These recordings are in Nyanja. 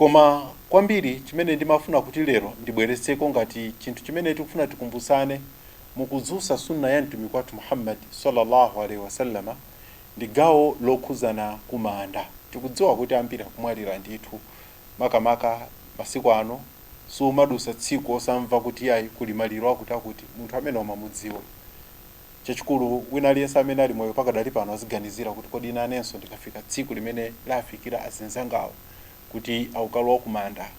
Koma kwambiri chimene ndimafuna kuti lero ndibweretseko ngati chinthu chimene tikufuna tikumbutsane mu kudzutsa Sunnah ya Mtumiki wathu Muhammad salla Allah alaih wasallam ndi gawo lokhudzana kumanda. Tikudziwa kuti ambiri akumwalira ndithu, makamaka masiku ano sumadutsa tsiku osamva kuti iyayi kuli maliro akuti akuti, munthu amene umamudziwa. Chachikulu, wina aliyense amene ali moyo pakadali pano aziganizira kuti, Kodi nanenso ndikafika tsiku limene lafikira azinzangawo, kuti akukalowa kumanda,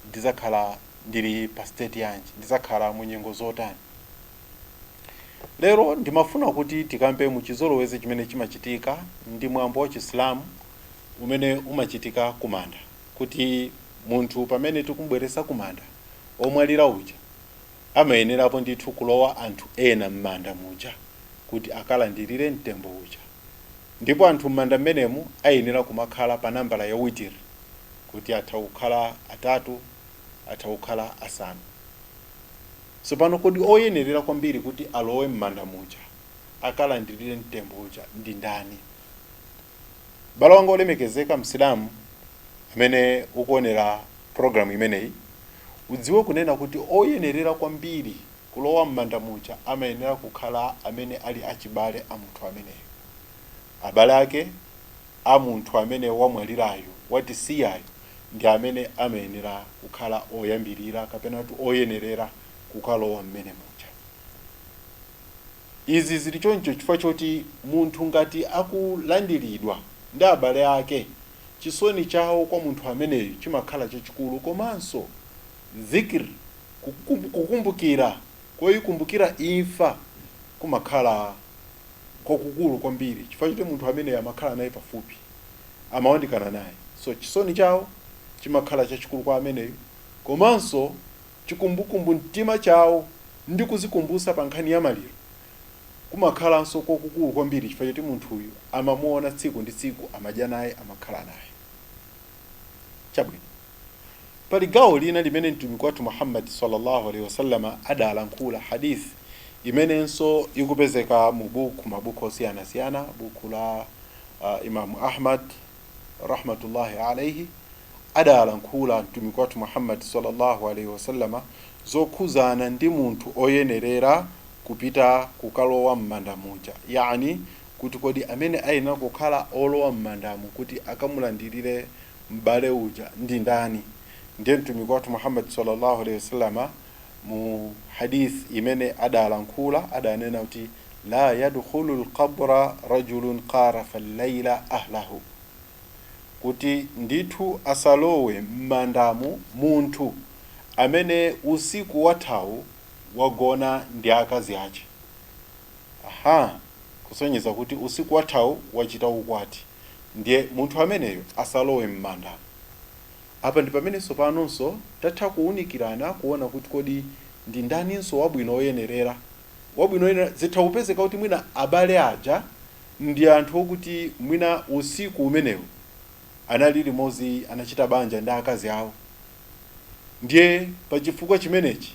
ndidzakhala ndili pa state yanji? Ndidzakhala mu nyengo zotani? Lero ndimafuna kuti tikambe mu chizolowezi chimene chimachitika ndi mwambo wa Chisilamu umene umachitika kumanda, kuti munthu pamene tikumubweretsa kumanda omwalira uja, amayenerapo ndithu kulowa anthu ena m'manda muja kuti akalandirire mtembo uja. Ndipo anthu m'manda mmenemu ayenera kumakhala pa nambala ya witr, kuti atha kukhala atatu, atha kukhala asanu. Tsopano kodi oyenerera kwambiri kuti alowe m'manda muja akalandirire mtembo uja ndi ndani? M'bale wanga wolemekezeka, Msilamu, amene ukuonera program imeneyi, udziwe kunena kuti oyenerera kwambiri kulowa m'manda muja amayenera kukhala amene ali achibale a munthu ameneyo. Abale ake a munthu amene wamwalirayo, watisiyayo, ndi amene amayenera kukhala oyambirira kapena kuti oyenerera kukalowa mmenemuja. Izi zili choncho chifukwa choti munthu ngati akulandiridwa ndi abale ake, chisoni chawo kwa munthu ameneyo chimakhala chachikulu komanso Dhikr, kukumbukira koikumbukira imfa, kumakhala kwakukulu kwambiri chifukwa choti munthu ameneyo amakhala naye pafupi, amawandikana naye. So, chisoni chawo chimakhala chachikulu kwa ameneyo komanso. Chikumbukumbu mtima chawo ndi kuzikumbutsa pa nkhani ya maliro kumakhalanso kwakukulu kwambiri chifukwa choti munthuyu amamuona tsiku ndi tsiku, amadya naye, amakhala naye. Chabwino. Pali gawo lina limene Mtumiki wathu Muhammad, Sallallahu Alayhi Wasallam, adalankhula, Hadith, imenenso ikupezeka mu buku, mabuku osiyanasiyana, buku la Imam Ahmad, rahmatullahi alaihi adalankhula Mtumiki wathu Muhammad sallallahu alaihi wasallama zokhuzana ndi munthu oyenerera kupita kukalowa mmanda muja, yaani kuti kodi amene ayenera kukhala olowa mmandamo kuti akamulandirire m'bale uja ndi ndani, ndiye Mtumiki wathu Muhammad sallallahu alaihi wasallama mu Hadith imene adalankhula, adanena kuti, La yadkhulul qabra rajulun qarafa al-laila ahlahu, kuti ndithu asalowe m'mandamo munthu amene usiku wathawu wagona ndi akazi ache. Aha! Kusonyeza kuti usiku wathawu wachita ukwati, ndiye munthu ameneyo asalowe m'mandamo. Apa ndi pamene tsopanonso tatha kuunikirana kuona kuti kodi ndi ndaninso wabwino oyenerera, wabwino oyenera, zitha kupezeka kuti mwina abale aja ndi anthu okuti mwina usiku umenewu anali limodzi anachita banja ndi akazi awo ndiye pa chifukwa chimenechi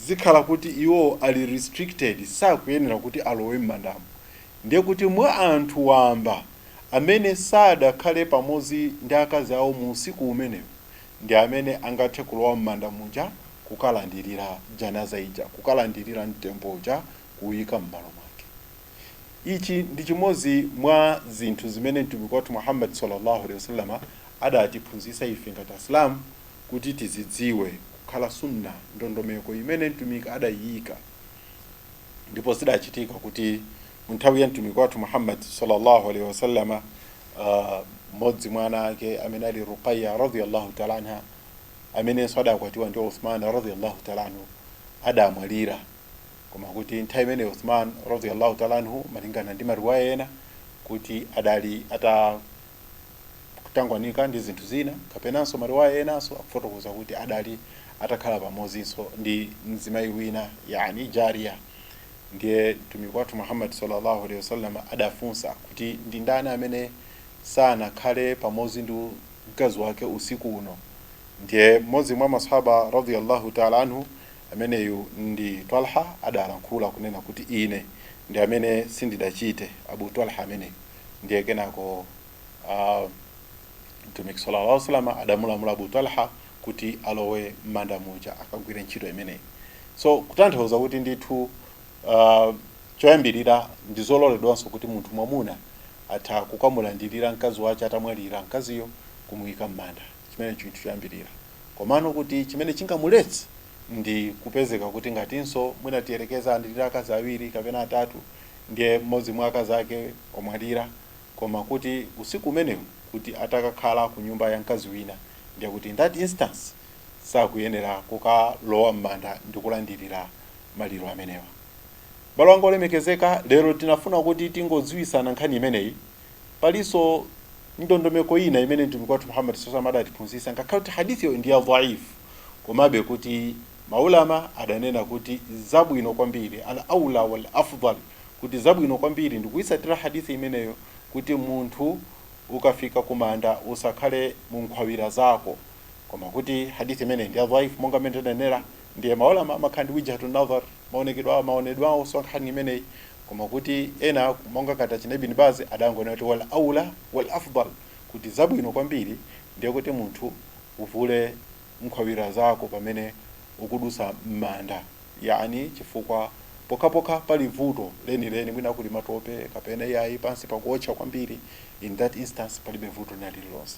zikhala kuti iwo ali restricted sakuyenera kuti alowe m'mandamo ndiye kuti mwa anthu wamba amene sadakhale pamodzi ndi akazi awo mu usiku umenewo ndi amene angathe kulowa m'manda muja kukalandirira Janaazah ija, kukalandirira mtembo uja kuwuika m'malo mwake. Ichi ndi chimodzi mwa zinthu zimene Mtumiki wathu Muhammad salla Allah alaih wasallam adatiphunzitsa ife ngati Asilamu kuti tizidziwe kukhala Sunnah, ndondomeko imene Mtumiki adaiika. ndipo zidachitika kuti mu nthawi ya mtumiki wathu muhammad sallallahu alaihi wasallama ah, mmodzi mwa ana ake amene ali ruqaya radiyallahu taala anha amenenso adakwatiwa ndi uthman radiyallahu taala anhu adamwalira koma kuti nthawi imene uthman radiyallahu taala anhu malingana ndi mariwaya ena kuti adali ata kutangwanika ndi zinthu zina kapenanso mariwaya enanso akufotokoza kuti adali atakhala pamozinso ndi mzimayi wina yani jariya ndiye mtumiki wathu muhammad sallallahu alaihi wasallam adafunsa kuti ndi ndani amene sanakhale pamozi ndi mkazi wake usiku uno ndiye mmodzi mwa masahaba radiyallahu ta'ala anhu ameneyu ndi talha adalankhula kunena kuti ine ndi amene sindidachite abu talha ameneyu ndiye kenako uh, mtumiki sallallahu alaihi wasallam adamulamula Abu Talha kuti alowe m'manda muja akagwire ntchito imeneyi so kutanthauza kuti ndithu uh, choyambirira ndi zololedwanso kuti munthu mwamuna atha kukamulandirira mkazi wace atamwalira mkaziyo kumuyika m'manda chimene chinthu choyambirira komano kuti chimene chingamuletse ndi kupezeka kuti ngatinso mwina tiyerekeza ali ndi akazi awiri kapena atatu ndiye mmodzi mwa akazi ake wamwalira, koma kuti usiku umenewu kuti atakakhala ku nyumba ya mkazi wina, ndiye kuti in that instance sakuyenera kukalowa mmanda ndi kulandilira maliro amenewa. Abale anga olemekezeka, lero tinafuna kuti tingodziwisana nkhani imeneyi Palinso ndondomeko ina imene Mtumiki wathu Muhammad sallallahu alaihi wasallam adatiphunzitsa ngakhale kuti Hadithiyo ndi ya dhaif komabe kuti ma ulama adanena kuti zabwino kwambiri, al awla wal afdhal, kuti zabwino kwambiri ndikuitsatira Hadith imeneyo kuti munthu ukafika kumanda usakhale munkhwawira zako koma kuti Hadith imeneyi ndi ya dhaif monga mmene ndidanenera. Ndiye ma Ulama amakhala ndi wijhatu nadhar, maoneke maonedwe awo so wa nkhani imeneyi, koma kuti ena monga ngati achina Ibn Baz adangonena kuti wal awla wal afdhal, kuti zabwino kwambiri ndiye kuti munthu uvule nkhwawira zako pamene ukudutsa m'manda, yaani chifukwa pokhapokha pali vuto lenileni, mwina kuli matope kapena iyayi pansi pakuotcha kwambiri, in that instance palibe vuto lina lililonse.